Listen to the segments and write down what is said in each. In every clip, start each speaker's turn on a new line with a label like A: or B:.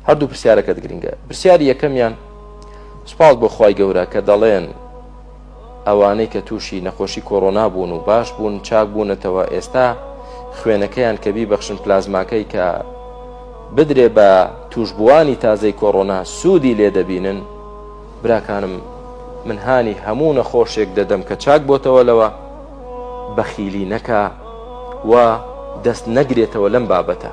A: هەردوو پرسیارەکەت گرنگە پرسیاری یەکەمیان سپاس بۆ خی گەورە کە دەڵێن ئەوانەی کە تووشی نەخۆشی کۆرۆنا بوون و باش بوون چاک بوونەتەوە ئێستا خوێنەکەیان کە بیبەخشن پلازماکەی کە بدرێ بە توشببووانی تازەی کۆرۆنا سوودی لێ دەبینن براکانم من هاانی هەموو نەخۆشێک دەدەم کە چاک بۆتەوە لەوە بەخیلی نەکا و دەست نەگرێتەوە لەم بابەتە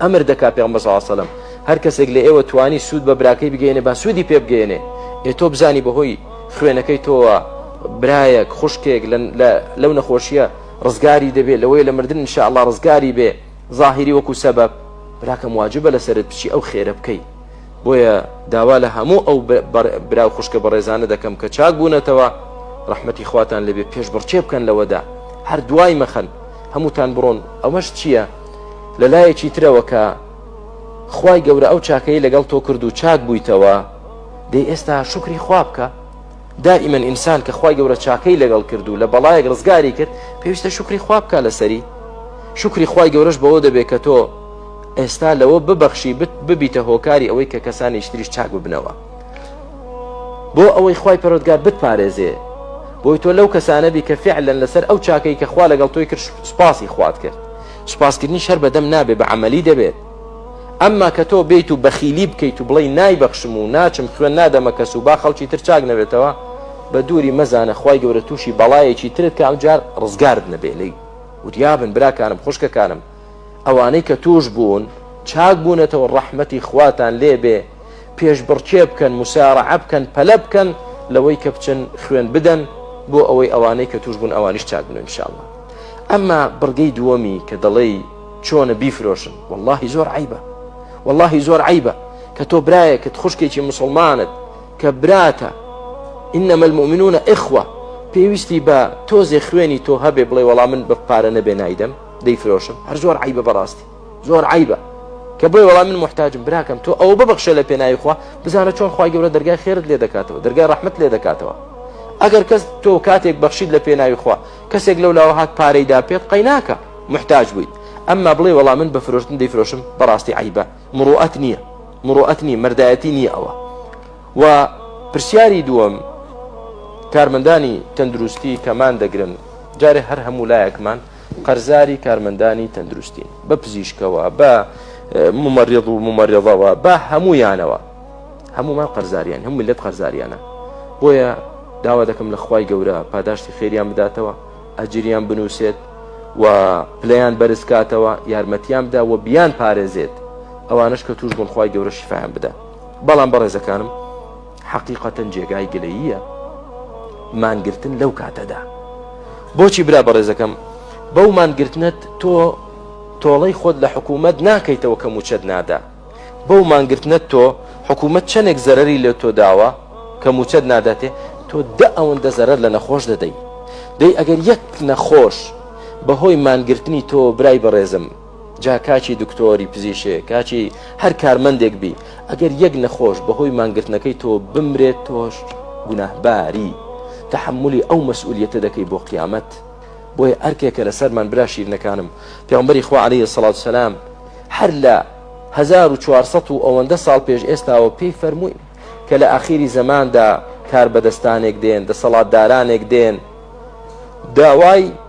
A: ئەمر دەکا پێغەمبەر صلی اللە علیە و سلم هەر کەسێک لە ئێوە توانی سوود بە براکەی بگەێنێ با سوودی پێ بگەێنێ ئێ تۆ بزانی بەهۆی خوێنەکەی تۆوە برایەک خوشکێک لەو نەخۆشیە ڕزگاری دەبێت لەوەی لە مردن انشاء الله ڕزگاری بێ ظاهری وەکو سەبەب براکەم واجبە لەسرت بچی ئەو خێرە بکەی بۆیە داوا لە هەموو ئەو برا و خوشکە بەڕێزانە دەکەم کە چاک بوونەتەوە ڕحمەتی خواتان لەبێ پێش بڕچێ بکەن لەوەدا هەر دوای مەخەن هەمووتان بڕۆن ئەوەش چییە؟ لە لایەکی ترەوە کە خوای گەورە ئەو چاکەی لەگەڵ تۆ کرد و چاک بوویتەوە دەی ئێستا شکری خوا بکە دائیمەن ئینسان کە خوای گەورە چاکەی لەگەڵ کرد و لە بەڵایەک ڕزگاری کرد پێویستە شکری خوا بکە لەسەری شکری خوای گەورەش بەوە دەبێت کە تۆ ئێستا لەوە ببەخشی ببیتە هۆکاری ئەوەی کە کەسانی شتریش چاک ببنەوە بۆ ئەوەی خوای پەرۆتگار بتپارێزێ بۆی تۆ لەو کەسانەبی کە فعلەن لەسەر ئەو چاکەی کە خوا لەگەڵ تۆی کرد سوپاسی خوات کرد سوپاسکردنی شەر بەدەم نابێ بە عملی دەبێت ئەمما کە تۆ بێیت و بەخیلی بکەیت و بڵی نایبەخشم و ناچم خوێن نادەمە کەس و با خەڵکی تر چاک نەبێتەوە بە دووری مەزانە خی گەورە تووشی بەڵایەکی ترت کە ئەم جار ڕزگارد نەبێ لی وریابن براکانم خوشکەکانم ئەوانەی کە توش بوون چاک بوونەتەوە ڕەحمەتی خواتان لێبێ پێشبڕکێ بکەن مسارعە بکەن پەلە بکەن لەوەی کە بچن خوێن بدەن بۆ ئەوەی ئەوانەی کە توش بوون ئەوانیش چاک بن انشاءالله ئەمما بڕگەی دووەمی کە دەڵێی چۆنە بیفرۆشن واللهی زۆر عیبە واللهی زۆر عیبە کە تۆ برایەکت خوشکێکی مسلمانت کە براتە إنما المؤمنون إخوة پێویستی بە تۆزێ خوێنی تۆ هەبێ بڵێ وەڵام من بە پارە نەبێ نایدەم دەیفرۆشم هەر زۆر عیبە بەڕاستی زۆر عیبە کە بۆی وەڵام من محتاجم براکەم تۆ ئەو ببخشە لە پێناوی خوا بزانە چۆن خخوای گەورە دەرگای خێرت لێ دەکاتەوە دەرگای ڕحمت لێ دەکاتەوە ئەگەر کەس تۆ کاتێک بەخشید لە پێناوی خوا کەسێک لەو لاوە هات پارەیدا پێت قەیناکە محتاج بوویت ئەمما بڵێ وەڵام من بە فرۆشتن دەیفرۆشم بەڕاستی عیبە مڕوعەت نییە مڕوعەت نییە مردایەتی نییە ئەوە و پرسیاری دووەم کارمەندانی تەندروستی کەمان دەگرن جارێ هەر هەموو لایەکمان قەرزاری کارمەندانی تەندروستین بە پزیشکەوە بە ممەڕێض و ممەڕێضەوە بە هەمویانەوە هەمومان قەرزاریان هەم ملت قەرزاریانە بۆیە داوا دەکەم لە خی گەورە پاداشتی خێریان بداتەوە ئەجریان بنووسێت و پلیان بەرزکاتەوە یارمەتیان بدا و بیان پارێزێت ئەوانش کە توش بوون خی گەورە شیفاان بدە بەڵام بەڕێزەکانم حەقیقەتەن جێگای گلەییە مانگرتن لەو کاتەدا بۆچی برا بەڕێزەکەم بەو مانگرتنت تۆ تۆڵەی خۆت لە حکوومەت ناکەیتەوە کە موچەت نادا بەو مانگرتنت تۆ حکوومەت چەندێک زەرری لە تۆ داوە کە موچەت ناداتێ تۆ دە ئەوەندە زەرەر لە نەخۆش دەدەی دەی ئەگەر یەک نەخۆش بەهۆی مانگرتنی تۆ برای بەڕێزم جا کاچی دکتۆری پزیشێ کاچی هەر کارمەندێک بی ئەگەر یەک نەخۆش بەهۆی مانگرتنەکەی تۆ بمرێت تۆش گوناهباری تحملی ئەو مەسئولیتە دەکەی بۆ قیامەت بۆیە ئەرکێکە لەسەرمان برا شیرنەکانم پێمبەری خوا عليه سەڵات سەسلام هەر لە 1400 و ئەوەندە ساڵ پێش ئێستاوە پێی فەرمووی کە لە ئاخیری زەماندا کار بەدەستانێک دێن دەسەڵاتدارانێک دێن داوای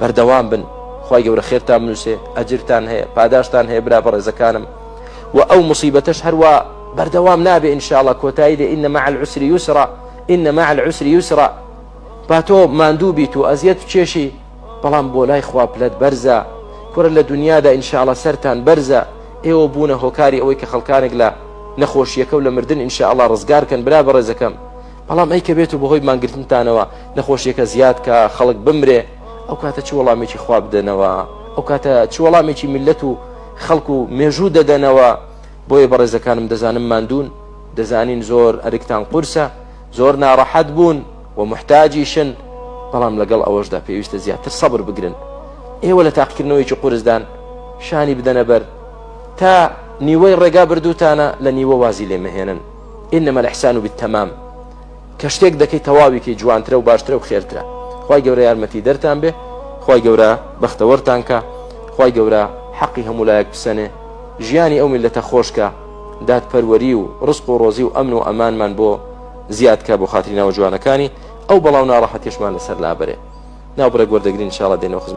A: بەردەوام بن خوای گەورە خێرتان بنووسێ ئەجرتان هەیە پاداشتان هەیە برا بەڕێزەکانم و ئەو مصیبەتەش هەروە بەردەوام نابێ ئینشاءڵە کۆتایی دێ ئینە مع العسر یوسرا ئینە مع العسر یوسرا با تۆ ماندوو بیت و ئەزیەت کێشی بەڵام بۆ لای خوا پلەت بەرزە کورە لە دنیادا ئینشاءڵە سەران بەرزە ئێوە بوونە هۆکاری ئەوەی کە خەڵکانێک لە نەخۆشیەکە و لە مردن ئینشاءڵا ڕزگارکەن برا بەڕێزەکەم بەڵام ئەی کە بێت و بەهۆی مانگرتنتانەوە نەخۆشیەکە زیاد کا خەڵک بمرێ ئەو کاتە چ وەڵامێکی خوا بدەنەوە ئەو کاتە چ وەڵامێکی میلەت و خەڵک و مێژوو دەدەنەوە بۆیە بەڕێزەکانم دەزانم مادوون دەزانین زۆر ئەرکتان قورسە زۆر ناڕەحەت بوون و محتاجیشن بەڵام لەگەڵ ئەوەشدا پێویستە زیاتر سەبر بگرن ئێوە لە تاقیکردنەوەیکی قورسدان شانی بدەنە بەر تا نیوەی ڕێگا بردووتانە لە نیوە وازی لێمەهێنن انما الاحسان بالتمام کە شتێک دەکەی تەواوی کەی جوانترە و باشترە و خێرترە خی گەورە یارمەتی دەرتان بێ خی گەورە بەختەوەرتان کە خی گەورە حەقی هەموو لایەک بسەنێ ژیانی ئەو میلەتە خۆشکە دادپەروەری و ڕسق و ڕۆزی و ئەمن و ئەمانمان بۆ زیادکە بۆ خاتری ناوە جوانەکانی ئەو بەڵاو ناڕەحەتێشمان لەسەر لابرێ ناوبرە گوەردەگرین شاڵە دێنەوە خزم